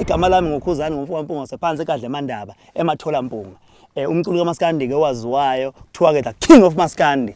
igama lami ngukhuzani ngumfowabo mpunga sephansi ekadle mandaba emathola mpunga eh umculo kamaskandi ke waziwayo kuthiwa ke the king of maskandi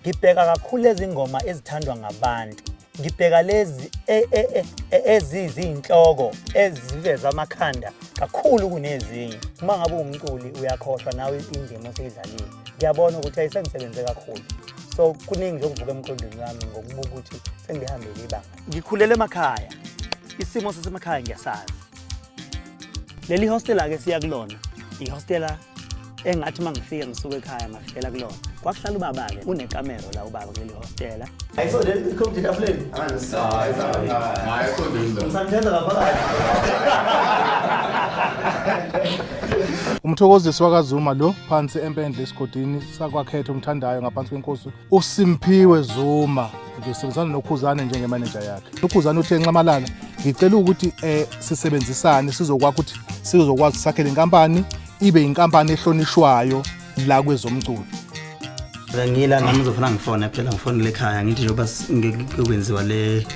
ngibheka kakhulu ezingoma ezithandwa ngabantu ngibheka lezi e, e, e, eziziyinhloko eziveza amakhanda kakhulu kunezinye uma ngabe umculi uyakhohlwa nawe indima oseyidlalile ngiyabona ukuthi ayisengisebenze kakhulu so kuningi nje okuvuka emqondweni wami ngokubuka ukuthi sengihambele ibanga ngikhulele emakhaya isimo sasemakhaya ngiyasazi leli hostela-ke siya kulona ihostela engathi uma ngifika ngisuke ekhaya ngafikela kulona kwakuhlala ubaba-ke unekamero la ubaba kuleli hostela umthokozisi wakazuma lo phansi empendle esigodini sakwakhetha umthandayo ngaphansi kwenkosi uSimphiwe Zuma ngisebenzisana noKhuzane njengemanager yakhe. UKhuzane uthe Nxamalala ngicela ukuthi eh sisebenzisane sizokwakha ukuthi sizokwazi sakhele inkampani ibe inkampani ehlonishwayo la kwezomculo. Ngila nami ngizofuna ngifone phela ngifonele ekhaya ngithi njengoba ngikwenziwa le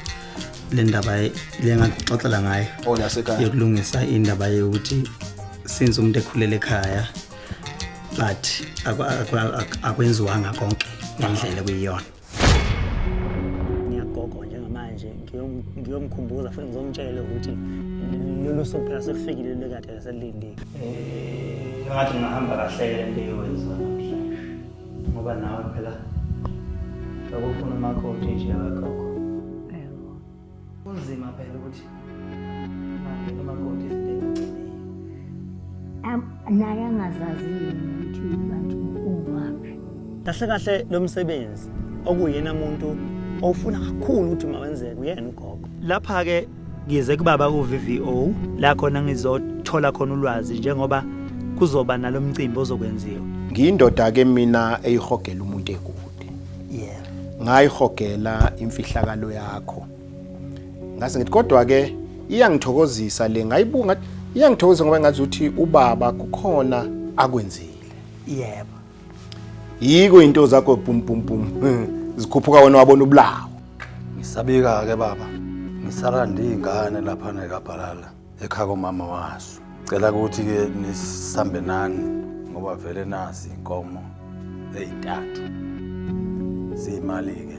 le ndaba le ngaxoxela ngayo oh, yokulungisa indaba yokuthi since umuntu ekhulele ekhaya but akwenziwanga konke ngendlela kuyiyona ngiyagogo njengamanje ngiyomkhumbuza futhi ngizomtshela ukuthi lolu suku phela sekufikile lekade laselilindile eh, ngathi ngingahamba kahle le nto eyowenziwa namhlanje ngoba nawe phela akufuna umakoti nje akagogo Kunzima phela ukuthi angene umakoti izidingo agciniyo. Am- naye angazazi yini ukuthi kanti ungaphi Kahle kahle lo msebenzi okuyena muntu owufuna kakhulu ukuthi mawenzeke uyena ugogo. Lapha-ke ngize kubaba ku-VVO la khona ngizothola khona ulwazi njengoba kuzoba nalo mcimbi ozokwenziwa. Ngiyindoda-ke mina eyihogela umuntu ekude. yeah ngayihogela imfihlakalo yakho ngase ngithi kodwa ke iyangithokozisa le ngayibunga iyangithokozisa ngoba ngathi uthi ubaba kukhona akwenzile yebo yiko into zakho pum pum pum zikhuphuka wena wabona ubulawo ngisabika ke baba ngisala ndingane lapha nekabhalala ekhaya komama waso cela ukuthi ke nisambe nani ngoba vele nazi inkomo ezintathu ziyimali ke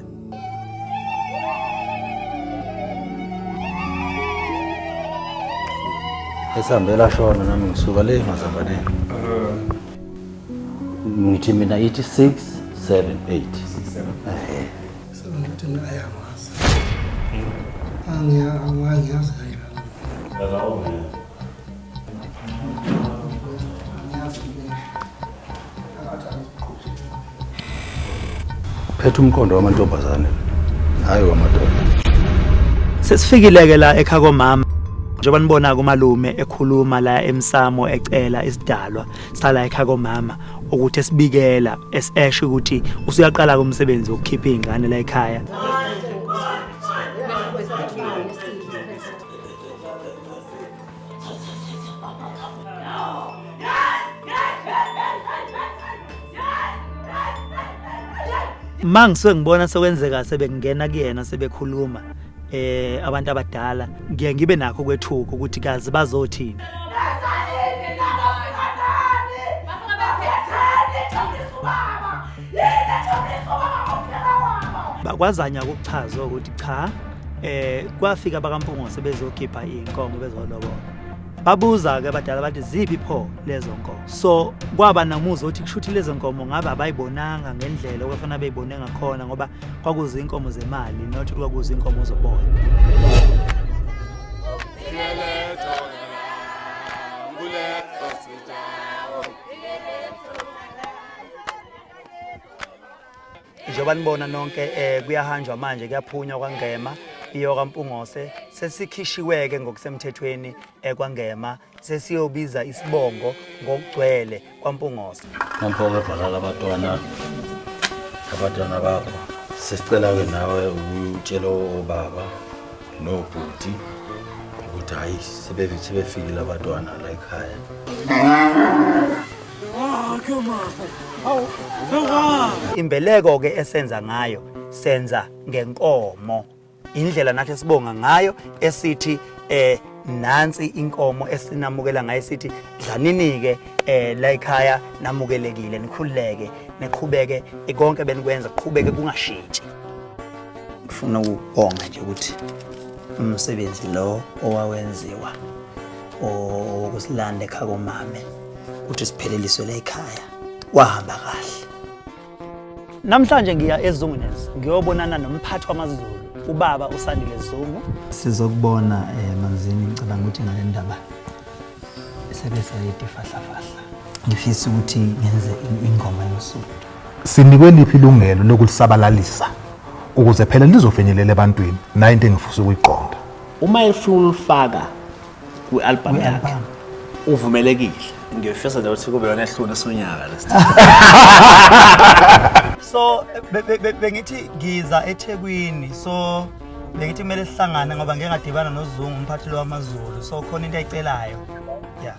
esihambela shona nami ngisuka le mazambaneni ngithi mina ithi 6 7 8 ehe Sengathi naye angazi. Angiya- angi- Angiyazi kahle lana. Angiyazi mina. Angathi angiqondi. phetha umqondo wamantombazane hhayi wamadoda Sesifikile-ke la ekhaya komama njengoba nibona-ke umalume ekhuluma la emsamo ecela isidalwa sala ekhaya komama ukuthi esibikela esesho ukuthi usuyaqala komsebenzi wokukhipha izingane la ekhaya mangisuke ngibona sekwenzeka sebekungena kuyena sebekhuluma eh abantu abadala ngiye ngibe nakho kwethuko ukuthi kazi bazothini bakwazanya ukuchaza ukuthi cha eh kwafika bakampungose bezokhipha inkomo bezolobola babuza ke abadala bathi ziphi pho lezo nkomo so kwaba namuzi othi kushuthi lezo nkomo ngabe abayibonanga ngendlela okufana beyibone ngakhona ngoba kwakuze inkomo zemali not kwakuze inkomo zoboya njengoba nibona nonke um kuyahanjwa manje kuyaphunywa kwangema iyoka mpungose sesikhishiweke ngokusemthethweni ekwangema eh, sesiyobiza isibongo ngokugcwele kwaMpungosa. Nampoke bhalala abatwana abatwana bakho sesicela-ke nawe utshele obaba nobhuti ukuthi hhayi sebefikile abatwana la ekhaya imbeleko-ke esenza ngayo senza ngenkomo indlela nathi esibonga ngayo esithi eh nansi inkomo esinamukela ngayo sithi dlaninike eh la ekhaya namukelekile nikhululeke niqhubeke konke benikwenza kuqhubeke kungashintshi ngifuna ukubonga nje ukuthi umsebenzi lo owawenziwa okusilanda ekhaya komame ukuthi sipheleliswe la ekhaya wahamba kahle Namhlanje ngiya eZungunes ngiyobonana nomphathi wamaZulu ubaba uSandile Zungu. Sizokubona eh manzini ngicabanga ukuthi ngale ndaba sebe sayidi fahla fahla. Ngifisa ukuthi ngenze ingoma yosuku. Sinikwe liphi ilungelo lokulisabalalisa ukuze phela lizofinyelela ebantwini nayo into engifisa ukuyiqonda. Uma efuna ulifaka kwi-albhamu yakhe uvumelekile ngiyofisa nje ukuthi kube yona ehluni sonyaka lesi so be- be- be- bengithi ngiza ethekwini so bengithi kumele sihlangane ngoba ngeke ngadibana nozungu umphathi lo wamazulu so khona into ayicelayo ya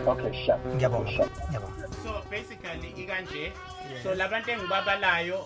Okay, sure. ngiyabonga ngiyabonga so basically ikanje so labantu engibabalayo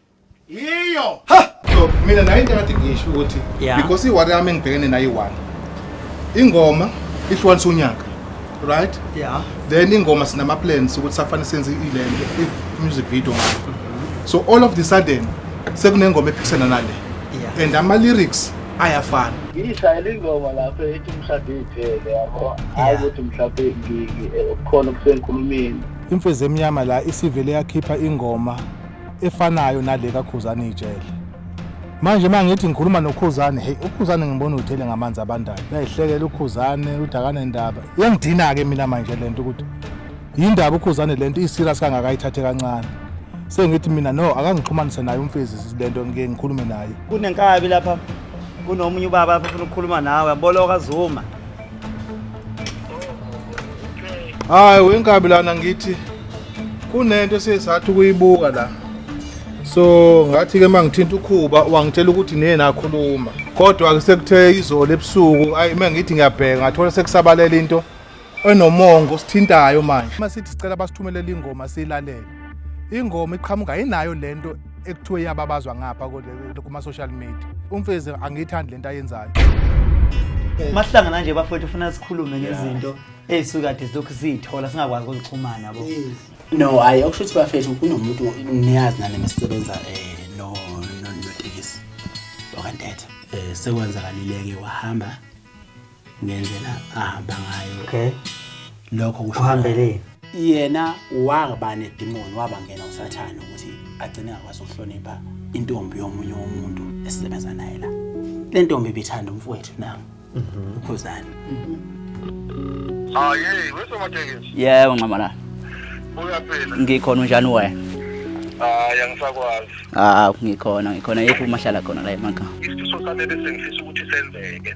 yiyo so mina nayo into engathi ngisho ukuthi Yeah. because iwari yami engibhekene nayo iwani ingoma ihlukanisa unyaka right Yeah. then ingoma sinama-plans ukuthi safane senze ilento i-music video ngayo so all of the sudden sekunengoma ephikisana nale Yeah. and ama-lyrics ayafana ngiyishayela ingoma lapho ethi umshado iphele yabo hayi ukuthi mhlawumbe ngi- ngi- eh, kukhona okusenkulumeni imfezi emnyama la isivele yakhipha ingoma efanayo nale kaKhuzani ijele manje uma ngithi ngikhuluma nokhuzane heyi ukhuzane ngibona uthele ngamanzi abandayo uyayihlekela ukhuzane uthi akanendaba iyangidina-ke mina manje le nto ukuthi yindaba ukhuzane le nto iserious kangakayithathe kancane sengithi mina no akangixhumanise naye umfezi le nto ngike ngikhulume naye kunenkabi lapha kunomunye ubaba afuna ukukhuluma nawe aboloka zuma hayi wenkabi lana ngithi kunento esiyesathi ukuyibuka la so ngathi ke mangithinta ukhuba wangitshela ukuthi niye nakhuluma kodwa ke sekuthe izolo ebusuku ayi mangithi ngiyabheka ngathola sekusabalela into enomongo sithintayo manje uma sithi sicela basithumelele ingoma silalele ingoma iqhamuka inayo lento ekuthiwe iyababazwa ngapha kuma-social media umfezi angiyithandi le nto ayenzayo mahlangana nje bafowethu ufuna sikhulume ngezinto ey'sukade zilokhu siyithola singakwazi ukuzixhumana bo no hhayi okusho ukuthi bafethu kunomuntu niyazi nani mesisebenza um eh, notekisi okantetha um eh, sekwenzakalileke wahamba ngendlela ahamba ngayo okay lokho kusho uhambeleni yena waba nedimoni wabangena usathane ukuthi agcine akwazi ukuhlonipha intombi yomunye umuntu esisebenza naye la le ntombi ibithanda umfowethu nami mhm. ukhuzani hayi ah, wesomatekisi yebo nxamalala uyaphila ngikhona unjani wena hayi ah, angisakwazi ah ngikhona ngikhona yephi umahlala khona la emakhaya isifiso sami ebesengifisa ukuthi senzeke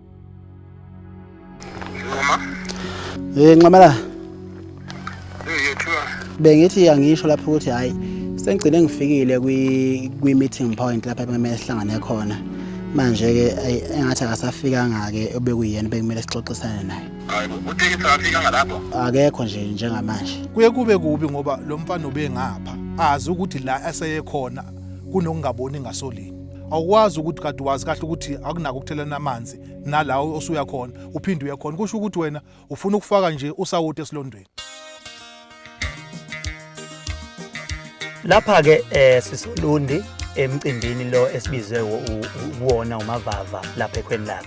Nqoma. Eh Nqamala. Eh yethiwa. Bengithi angisho lapho ukuthi hayi sengigcine ngifikile kwi kwi meeting point lapha kumele sihlangane khona. Manje ke engathi akasafikanga ke obekuyena bekumele sixoxisane naye. Hayi uthekisa afika ngalapho. Akekho nje njengamanje. Kuye kube kubi ngoba lo mfana ubengapha azi ukuthi la aseye khona kunokungaboni ngasolini. awukwazi ukuthi kade wazi kahle ukuthi akunako ukuthelana amanzi nalawo osuya khona uphinde uye khona kusho ukuthi wena ufuna ukufaka nje usawoti esilondweni lapha ke eh sisolundi emcimbini lo esibizwe kuwona umavava lapha ekhweni lakhe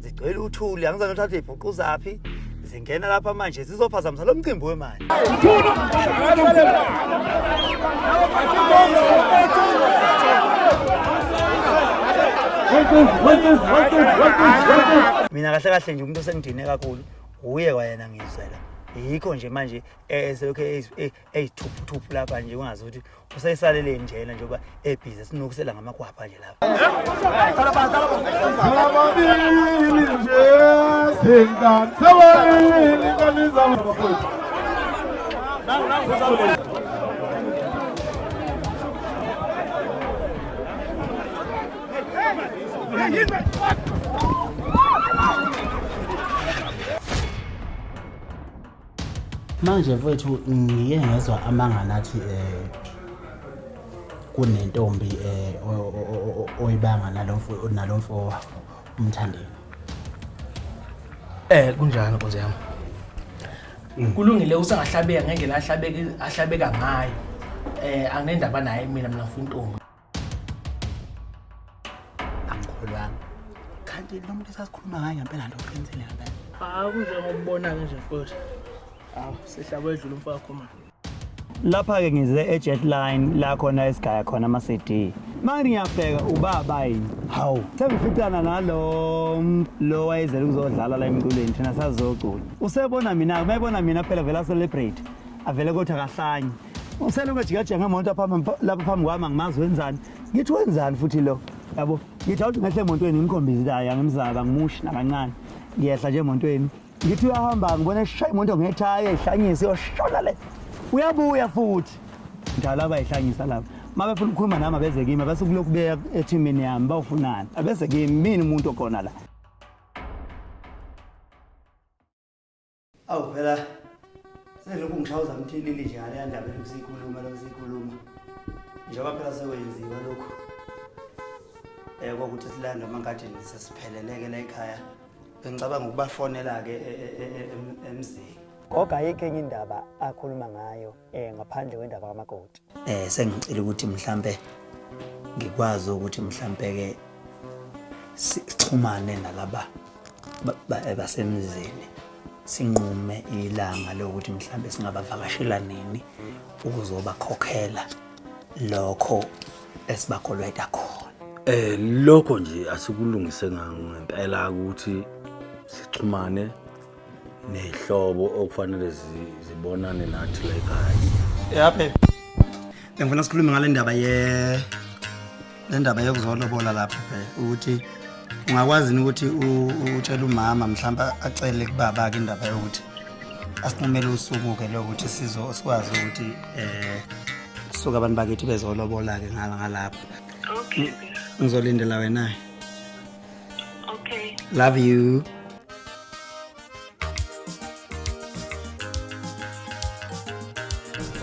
zigcwele uthuli angizange uthathe ibhuqu zaphi zingena lapha manje zizophazamisa lo mcimbi wemali mina kahle kahle nje umuntu osengidine kakhulu wuye kwayena ngizela yikho nje manje eselokhu eyithuphuthupu lapha nje ungazi ukuthi useyisalele njena njengoba ebhizi sinukisela ngamakwapha nje lapha Hey, manje mfowethu ngike ngezwa amanga nathi eh kunentombi eh oyibanga nalomfo nalomfo umthandeni eh kunjani nkosi yami mm. kulungile usangahlabeka ngendlela ahlabeka ahlabeka ngayo eh anginendaba naye mina mina ngifuna intombi angikholwanga kanti lo muntu esasikhuluma ngayo ngempela nto uqinisile ngempela hawu kunjengokubonayo nje futhi hawu sihlabo edlula umfo wakho manje lapha-ke ngize e-jet line la khona esigaya khona ama-cd manje ngiyabheka ubaba yini hawu sengificana nalo lo wayezele ukuzodlala la emculweni thina sazocula usebona mina-ke uma ebona mina phela vele acelebrate avele kothi akahlanye Uselokhu ejikajika ngemoto lapha phambi kwami angimazi wenzani. Ngithi wenzani futhi lo? Yabo, ngithi awuthi ngehle emontweni ngimkhombise ukuthi hayi angimzaba ngimushi nakancane. Ngiyehla nje emontweni. Ngithi uyahamba ngibona eshaya imoto ngethaya ihlanyisa iyoshona le. Uyabuya futhi. Njalo abayihlanyisa lapha. Uma befuna ukukhuluma nami abeze kimi bese kulokhu beya ethimini yami bawufunani. Abeze kimi mina umuntu okhona la. awu phela selokhu ngishawuza mthilili nje ngaleya ndaba elokhu siyikhuluma lokhu siyikhuluma njengoba phela sekwenziwa lokhu um kokuthi silanda amangadini sesipheleleke la ekhaya bengicabanga ukubafonela-ke e, e, e, emzini kodwa ayikho enye indaba akhuluma ngayo eh ngaphandle kwendaba kamakoti eh sengicela ukuthi mhlambe ngikwazi ukuthi mhlambe ke sixhumane nalaba eh, basemzini sinqume ilanga lokuthi mhlambe singabavakashela nini ukuzobakhokhela lokho esibakolweta khona eh lokho nje asikulungise ngempela ukuthi sixhumane nehlobo okufanele zi- zibonane nathi la ekhaya yaphe bengifuna sikhulume ngale ndaba ye le ndaba yokuzolobola lapho ke ukuthi ungakwazi yini ukuthi u- utshele umama mhlawumbe acele kubaba-ke indaba yokuthi asinqumele usuku-ke lokuthi sizo sikwazi ukuthi um kusuke abantu bakithi bezolobola-ke ngala ngalapho okay ngizolindela wena-ke Okay. Love you.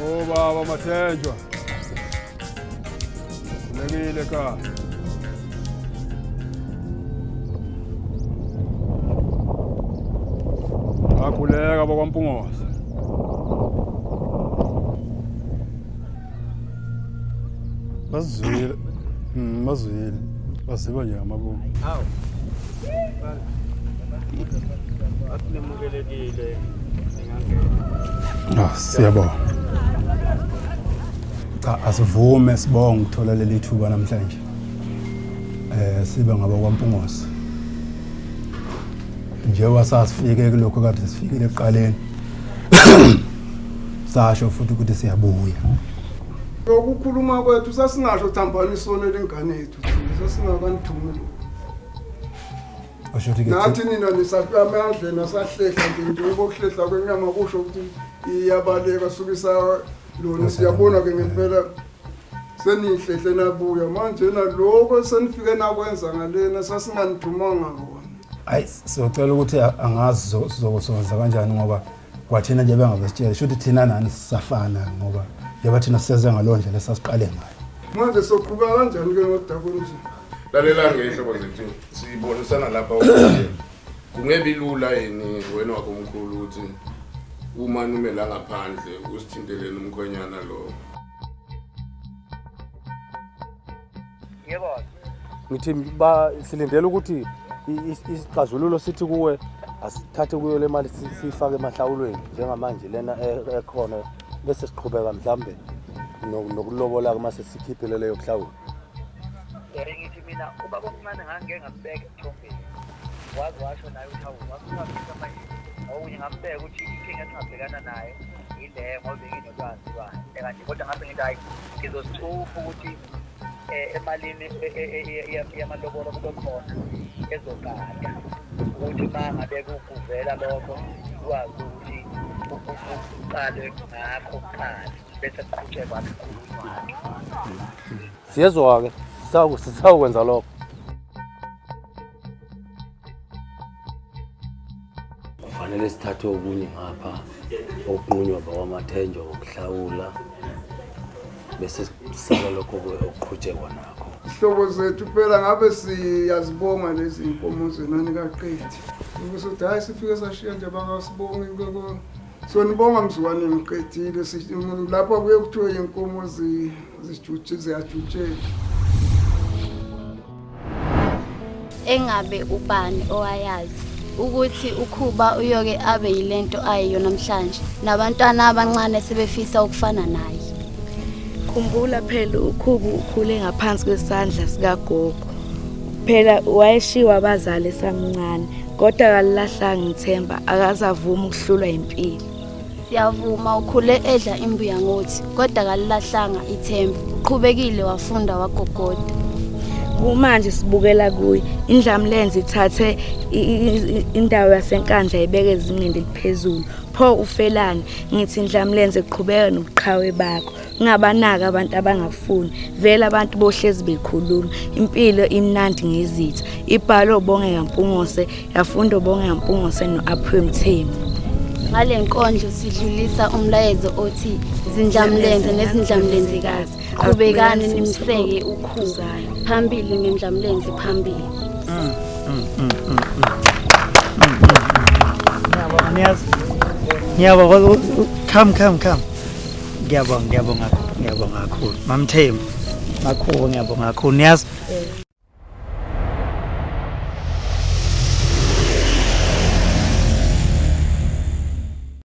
Oh baba Mathenjwa. Kulekile ka. Akhuleka bakwaMpungosa. bazizwile mm, bazizwile baziba nje ngamabomu hawu asinemukelekile ah, siyabonga cha asivume sibonga ukuthola leli thuba namhlanje eh sibe ngaba kwaMpungosi njengoba sasifike kulokho kade sifikile ekuqaleni sasho futhi ukuthi siyabuya lokukhuluma kwethu sasingasho thambani isono elingane yethu thina sasingakanithumi lokhu asho ukuthi ke nathi nina nisaqame andleni asahlehla nje njengoba ukuhlehla kwenyama kusho ukuthi iyabaleka sukisa lona siyabona-ke ngempela seniyihlehle nabuya manje naloko senifike nakwenza ngalena sasinganithumanga kona hayi siyocela ukuthi angazi sizokusonza kanjani ngoba kwathina nje bengabesitshela shuthi thina nani sisafana ngoba njengoba thina siseze ngalowo ndlela esasiqale ngayo manje soqhuba kanjani ke ngodaba olunje lalela ngehlobo zethu sibonisana lapha Kungebi lula yini wena wakomkhulu ukuthi uma numela ngaphandle usithinteleni umkhwenyana lowo? Yebo. Ngithi ba silindele ukuthi isixazululo sithi kuwe asithathe kuyo le mali siyifake emahlawulweni njengamanje lena e-, ekhona bese siqhubeka mhlambe nokulobola-ke uma sesikhiphile leyo kuhlawula ngithi mina ubaba omncane ngangike ngambeka waze washo naye ukuthi awu wakuhambisa manje okunye ngambeka ukuthi inkinga esingabhekana nayo yile ngoba benginolwazi lwayo kanti kodwa ngase ngithi hhayi ngizosithupha ukuthi um emalini yamalobolo kube khona ezogada ukuthi uma ngabe kuvela lokho kwazi ukuthi kuqalwe ngakho kuqala bese kuqhutshekwa kukhulunywa siyezwa-ke sisawukwenza lokho kufanele sithathe okunye ngapha okunqunywa bakwamathenjwa ngokuhlawula bese sisala lokho okuqhutshekwa nakho sihlobo zethu phela ngabe siyazibonga lezi nkomo zenani kaqedi ukuthi uthi hhayi sifike sashiya nje bakasibongi sonibonga mzukwane ngiqedile lapha kuye kuthiwe yinkomo Zijutshile ziyajutshela. engabe ubani owayazi ukuthi ukhuba uyoke abe yilento ayiyo namhlanje nabantwana abancane sebefisa ukufana naye khumbula phela ukhubu ukhule ngaphansi kwesandla sikagogo phela wayeshiwa abazali esamncane kodwa akalilahlanga ithemba akazavuma ukuhlulwa impilo Siyavuma ukhule edla imbuya ngothi kodwa kalilahlanga ithemba. Uqhubekile wafunda wagogoda. Kumanje sibukela kuye indlamlenze ithathe indawo yasenkandla ibeke ezingeni eliphezulu. Pho ufelani? Ngithi indlamlenze qhubeka nobuqhawe bakho. ngabanaka abantu abangafuni vele abantu bohlezi bekhuluma impilo imnandi ngezitha ibhalo bonge yampungose yafundo bonge yampungose no-aphiwe mthembu ngale nkondlo sidlulisa umlayezo othi zindlamlenze nezindlamlenzikazi qhubekani nimseke ukhuza phambili ngendlamlenze phambili mm, mm, mm, mm, mm. mm, mm. Come, come, come. ngiyabonga ngiyabonga ngiyabonga kakhulu mamthembu makhubo ngiyabonga kakhulu niyazi